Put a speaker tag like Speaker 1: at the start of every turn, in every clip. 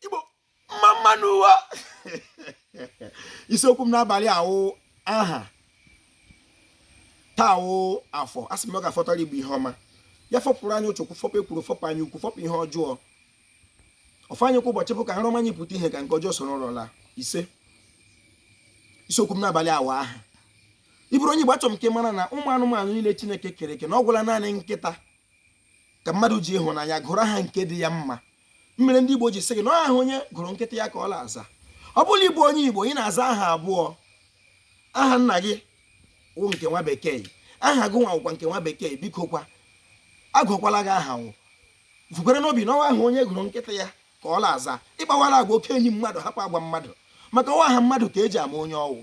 Speaker 1: igbo mma mma nụ wo isiokwu m n'abalị a wụ aha taa wụ afọ a sị m ọ ga-afọtara igbo ihe ọma ya fọpụrụ anyị ọchọ okwu fọpụ ekworo fọpụ anya ukwu fọpụ ihe ọjọọ ọfọ anyị kwa ụbọchị bụ ka nrọ ọma anyị pụta ihe ka nke ọjọọ soro nrọ laa isee isiokwu m n'abalị a wụ aha ị bụrụ onye Igbo achọrọ m ka ị mara na ụmụ anụmanụ niile Chineke kere eke na ọ gwụla naanị nkịta ka mmadụ ji ịhụnanya gụrụ aha nke dị ya mma mmere ndị Igbo ji sị gị na aha onye gụrụ nkịta ya ka ọ na-aza ọ bụrụ ị bụ onye Igbo ị na-aza aha abụọ aha nna gị wụ nke nwa bekee aha gị nwa nke nwa bekee biko kwa agụkwala gị aha ahụ vukwara n'obi na ọ wụ aha onye gụrụ nkịta ya ka ọ na-aza ị kpawara agwa oke enyi mmadụ hapụ agwa mmadụ maka ọ wụ aha mmadụ ka eji ama onye ọ wụ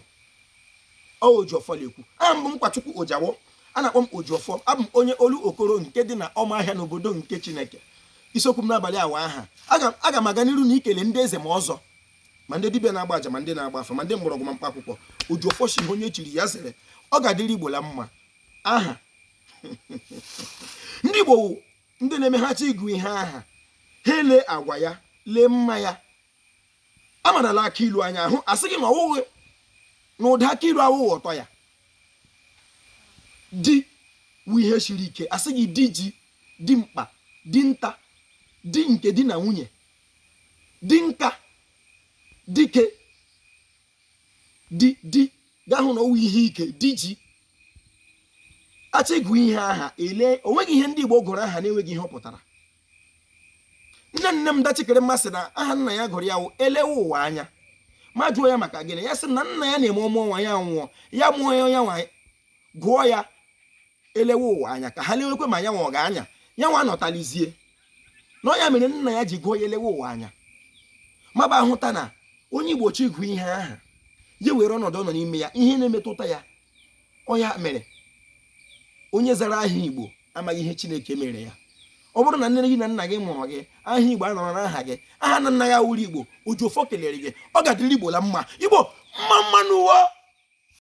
Speaker 1: ojiọfọ na-ekwu aha m bụ nkwachukwu ojawo a na-akpọ m ojiọfọ abụ m onye olokoro nke dị n'ụmụahịa n'obodo nke chineke isiokwu m n'abalị a wụ aha aga m aga n'iru n'ikele ndị eze ma ọzọ ma ndị dibịa na-agba aja ma ndị na-agba afa ma ndị mgbọrọgwụ ma mkpa akwụkwọ ojiọfọ sị ihe onye chiri ya zere ọ ga-adịrị igbo la mma aha ndị igbo ndị na-eme ha chọọ ịgụ ihe aha ha elee agwa ya lee mma ya a mara na akị ilu anya ahụ a sị gị na ọ wụghị na ụda akị ilu awụghị ụtọ ya di wụ ihe siri ike a sị gị di ji di mkpa di nta di nke di na nwunye di nka dike di ị ga-ahụ na ọ wụ ihe ike di ji a chọọ ịgụ ihe aha e lee o nweghị ihe ndị Igbo gụrụ aha na-enweghị ihe ọ pụtara nne nne m da chikere m asị na aha nna ya gụrụ ya wụ elewe ụwa anya m ajụọ ya maka gịnị ya sị na nna ya na-eme ọ mụọ nwa ya nwụọ ya mụọ ya nwa gụọ ya elewe ụwa anya ka ha lewekwa ma ya nwa ọ ga-anọ ya nwa nọtalizie na ọ ya mere nna ya ji gụọ ya elewe ụwa anya m abịa hụta na onye igbo chọọ ịgụ ihe aha ya were ọnọdụ ọ nọ n'ime ya ihe na-emetụta ya ọ ya mere onye zara aha igbo amaghị ihe chineke mere ya ọ bụrụ na nne gị na nna gị mụrụ gị aha igbo anọrọ n'aha gị aha na nna ya wụrụ igbo ojiọfọ kelere gị ọ ga-adịrị igbo la mma igbo mma mma nụ wo